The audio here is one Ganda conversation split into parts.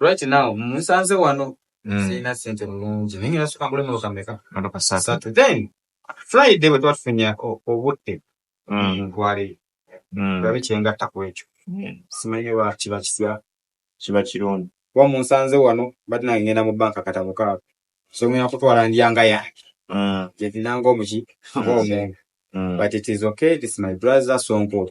right now musanze wano mm. sirina sente mulungi naye ngenda soka ngule moloka meka moloka satu then friday bwe twatufunya obudde mm. ntwaleyo mm. olabe kyengatta ku ekyo simanyi oba kiba kitya kiba kirungi kuba munsanze wano bati nange ngenda mu banka katabo kaako so ngenda kutwala ndyanga yange gyetinanga omuki ng'omuntu but it is okay it is my brother sonko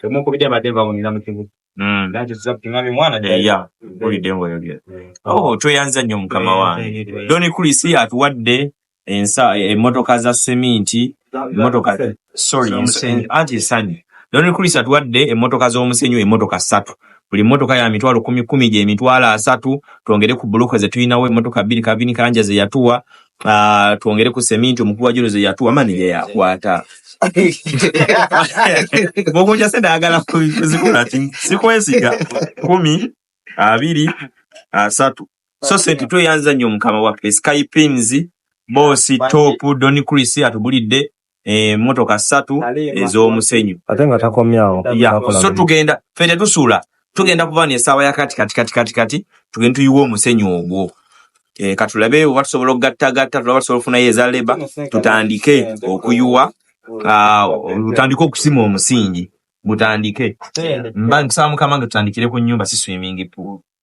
Temunkubidde mbadde nva mu nina mu kibuga. Mm. That is up to nami mwana Eh, jali. yeah. Mpulidde ng'oyogera. Eh. Oh, tweyanza nnyo mukama wange. Eh, eh, eh. Don Chris atuwadde ensa eh, emmotoka za seminti, emmotoka sorry, Za musenyu. anti esanyu. Don Chris atuwadde emmotoka z'omusenyu emmotoka ssatu. Buli mmotoka ya mitwalo kumi kumi gye mitwalo asatu, twongere ku buloko ze tulinawo emmotoka bbiri kabini kanja ze yatuwa, Uh, twongere ku seminti omukubi wa junuzi yatuwa mani ye yakwata mukunja sente ayagala kuzikula ti sikwesiga kumi abiri asatu so sente tweyanza nnyo mukama waffe skypins bosi top don chris atubulidde emmotoka eh, ssatu ez'omusenyu ate nga takomyawo so tugenda fe tetusuula tugenda kuba nesaawa yakati kati kati kati kati tugende tuyiwe omusenyu ogwo eh, katulabe oba tusobola okugattagatta tulaba tusobola okufunayo eza leba tutandike okuyuwa ah, tutandike okusima omusingi mutandike mba nkusaba mukama nga tutandikire ku nyumba si swimming pool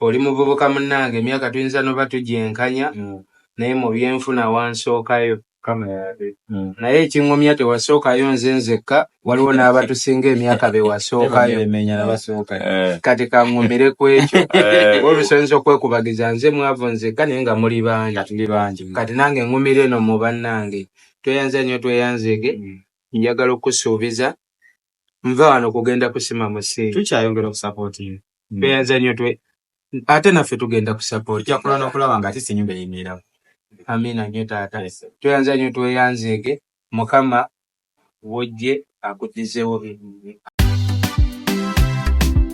oli muvubuka munange emyaka tuyinza noba tugyenkanya mm. naye mubyenfuna wansookayo mm. naye ekingumya tewasookayo nze nzekka waliwo n'abatusinga emyaka bewasookayo eh. kati kangumire ku ekyo eh. olusoyinza okwekubagiza nze mwavu nzekka naye nga muli bangi kati nange ngumire eno mu bannange tweyanze nyo tweyanzege mm. njagala okusuubiza nva wano kugenda kusima musi tukyayongera okusapotinga hmm. tweyanza nnyo twe ate naffe tugenda kusapotijakula nokulaba nga ate senyumba yenywerao amina nnyo taata tweyanza nnyo tweyanzeege mukama wojje akudizewo